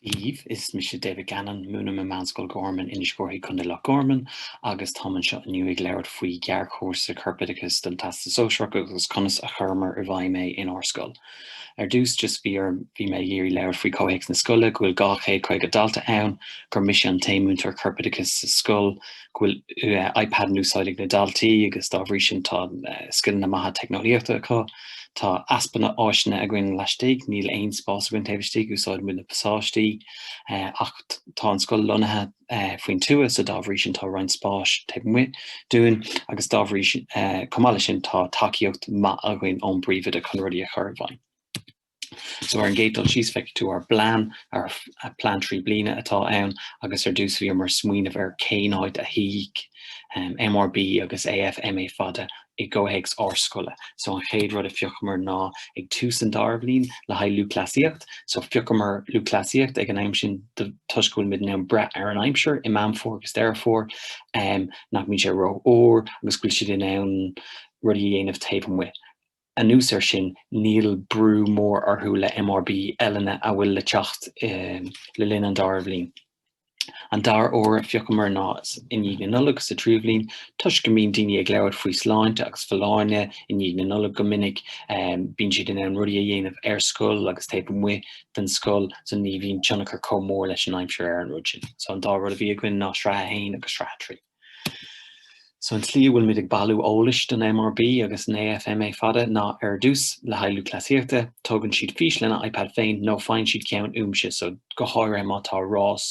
Dia daoibh, is mise David Gannon, múnim i Meánscoil Gharman, Inis Córthaidh, Contae Loch Garman, agus táim anseo inniu ag labhairt faoi ghearrchúrsa corpoideachais don Teastas Sóisearach agus conas a chuireamar i bhfeidhm é inár scoil. Ar dtús, just bhí orm, bhí mé ag iarraidh labhairt faoi chomhthéacs na scoile, go bhfuil 250 dalta ann, gur mise an t-aon múinteoir corpoideachais sa scoil, go bhfuil iPad in úsáid ag na daltaí agus dá bhrí sin tá scileanna maithe teicneolaíochta acu. Tá easpa áiseanna againn laistigh, níl aon spás againn taobh istigh, úsáideann muid na pasáistí ach tá an scoil lonnaithe faoin tuath so dá bhrí sin tá roinnt spáis taobh amuigh dúinn agus dá bhrí sin, chomh maith leis sin, tá tacaíocht mhaith againn ón bPríomhoide chun rudaí a chur i bhfeidhm. So ar an gcéad dul síos feicfidh tú ár bplean, ár plean trí bliana atá ann agus ar dtús bhíomar ag smaoineamh ar cén áit a shuífeadh MRB agus AFMA fada i gcomhthéacs ár scoile. So an chéad rud a phiocamar ná ag tús an dara bhliain le haghaidh lúthchleasaíocht, so phiocamar lúthchleasaíocht ag an am sin toisc go bhfuil muid in ann breith ar an aimsir i Meán Fómhair agus Deireadh Fómhair nach mbíonn sé ró-fhuar agus go bhfuil siad in ann rudaí a dhéanamh taobh amuigh. Anuas ar sin, níl brú mór orthu le MRB eile atá le teacht le linn an dara bhliain. An dara uair a phiocamar ná i ndiaidh na Nollag sa tríú bhliain. Toisc go mbíonn daoine ag labhairt faoi sláinte agus folláine i ndiaidh na Nollag go minic, bíonn siad in ann rudaí a dhéanamh ar scoil agus taobh amuigh den scoil so ní bhíonn tionchar chomh mór leis an aimsir ar an rud sin. So an dá rud a bhí againn ná sraith a haon agus sraith a trí. So an tslí a bhfuilmid ag bailiú eolais don MRB agus an AFMA fada ná ar dtús le haghaidh lúthchleasaíochta, tógann siad fís lena iPad féin nó faigheann siad ceann uaimse, so go háirithe má tá rás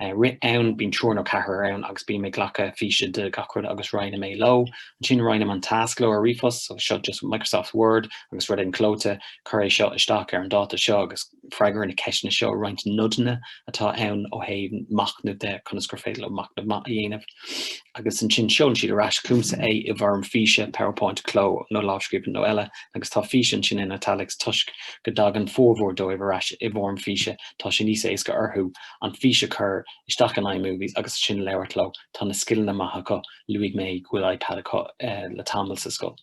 rith ann, bíonn triúr nó ceathrar ann agus bím ag glacadh físe de gach rud agus roinnim é leo. Ansin roinnim an tasc leo ar ríomhphost, so seo just Microsoft Word agus rud éigin clóite, cuir é seo isteach ar an dáta seo agus. freagair na ceisteanna seo roinnt nodanna atá ann ó thaobh machnamh de conas gur féidir leo machnamh maith a dhéanamh. Agus ansin seolann siad ar ais chugamsa é i bhfoirm físe, PowerPoint, cló nó lámhscríbhinn nó eile, agus tá fís ansin in italics toisc go dtagann formhór dóibh ar ais i bhfoirm físe, tá sé níos éasca orthu an fís a chur isteach in iMovies agus ansin labhairt air. Tá na scileanna maith acu, luaigh mé go bhfuil iPad acu le tamall sa scoil.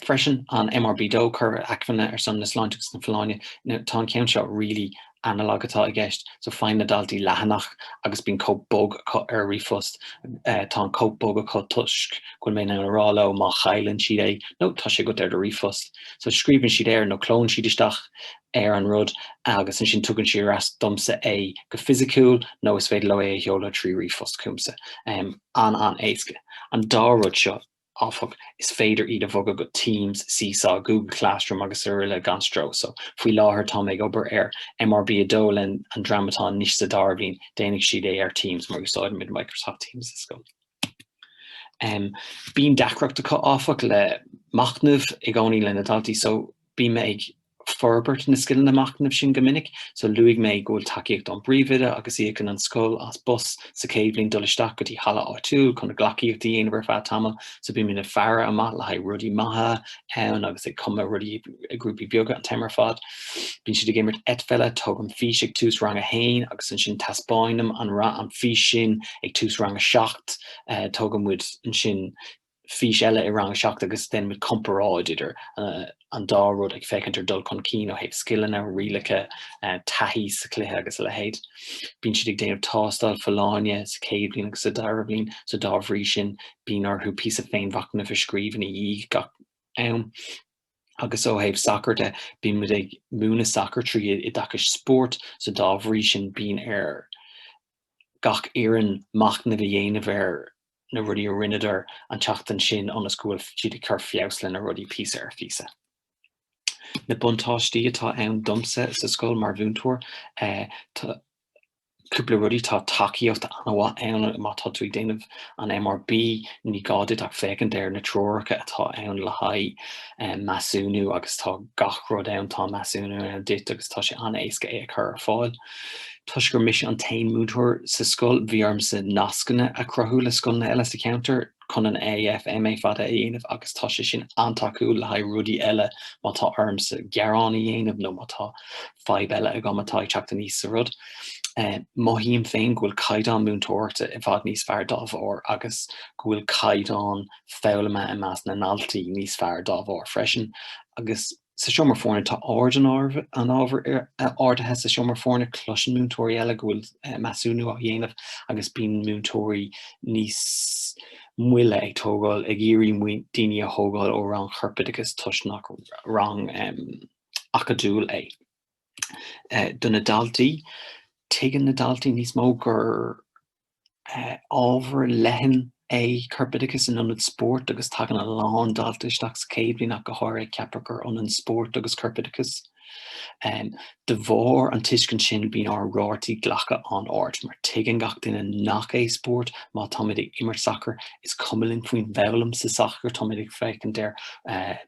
freisin an MRB dó cur acmhainní ar son na sláinte agus na folláine. Now, tá an ceann seo really analog atá i gceist, so faigheann na daltaí leathanach agus bíonn cóip bog acu ar a ríomhphost. Uh, tá an cóip bog acu toisc go bhfuil mé in ann a rá leo má chailleann siad é, nó tá sé agat ar do ríomhphost. So scríobhann siad air nó clónn siad isteach ar an rud agus ansin tugann siad ar ais domsa é go fisiciúil nó is féidir leo é a sheoladh trí ríomhphost chugamsa. Um, an an éasca. An dá rud seo áfach, is féidir iad a bhogadh go Teams, Seesaw, Google Classroom srl gan stró. So, faoi láthair táim ag obair ar MRB 2 leis an dream atá anois sa dara bliain, déanfaidh siad é ar Teams mar úsáidimid Microsoft Teams sa scoil. Um, bíonn deacracht acu áfach le machnamh i gcónaí le na daltaí so bím ag forbairt na scileanna machnaimh sin go minic so luaigh mé go bhfuil tacaíocht ón bpríomhoide agus íocann an scoil as bus sa chéad bhliain dul isteach go dtí halla áitiúil chun an ghleacaíocht a dhéanamh ar feadh tamaill so bím ag faire amach le haghaidh rudaí maithe ann agus ag cumadh rudaí i grúpaí beaga an t-am ar fad. Bíonn siad ag imirt eitpheile, tógaim fís ag tús rang a haon agus ansin taispeáinim an fís sin ag tús rang a seacht, tógann muid ansin, fís eile i rang 7 agus déanann muid comparáid idir an dá rud ag féachaint ar dul chun cinn ó thaobh scileanna, rialacha, taithí sa chluiche agus a leithéid. Bíonn siad ag déanamh tástáil folláine sa chéad bhliain agus sa dara bhliain so dá bhrí sin bíonn orthu píosa féinmhachnaimh a scríobh ina dhiaidh gach am. Agus ó thaobh sacair de, bíonn muid ag múineadh sacair trí oideachas spóirt so dá bhrí sin bíonn ar gach fhoireann machnamh a dhéanamh ar na rudaí a rinneadar an tseachtain sin ionas go bhfuil siad ag cur feabhas leis na rudaí píosa ar phíosa. Na buntáistí atá ann domsa sa scoil mar mhúinteoir, tá cúpla rudaí, tá tacaíocht an-mhaith ann má tá tú ag déanamh an MRB, ní gá duit ach féachaint ar na treoracha atá ann le haghaidh measúnú agus tá gach rud ann, tá measúnú ann duit agus tá sé an-éasca é a chur ar fáil. Toisc gur mise an t-aon múinteoir sa scoil, bhí ormsa nascanna a chruthú le scoileanna eile sa cheantar chun an AFMÁ fada a dhéanamh agus tá sé sin an-tacúil le haghaidh rudaí eile má tá ormsa gearán a dhéanamh nó má tá fadhb eile agam atá ag teacht aníos sa rud. Mothaím féin go bhfuil caighdeán múinteoireachta i bhfad níos fearr dá bharr agus go bhfuil caighdeán foghlama i measc na ndaltaí níos fearr dá bharr freisin agus sa seomra foirne. Tá ard an, ard an ábhair ardaithe sa seomra foirne, cloiseann múinteoirí eile go bhfuil measúnú á dhéanamh agus bíonn múinteoirí níos moille ag tógáil, ag iarraidh daoine a thógáil ó rang chorpoideachais toisc nach rang acadúil é. Do na daltaí, tuigeann na daltaí níos mó gur. Ábhar leathan é corpoideachas in ionad spóirt agus tagann a lán dalta isteach sa chéad bhliain ach go háirithe ag ceapadh gur ionann spórt agus corpoideachas. De bharr an tuiscint sin bíonn ár rátaí glactha an-ard mar tuigeann gach duine nach é spórt má táimid ag imirt sacair, is cuma linn faoin bhfoghlaim sa sacar, táimid ag féachaint ar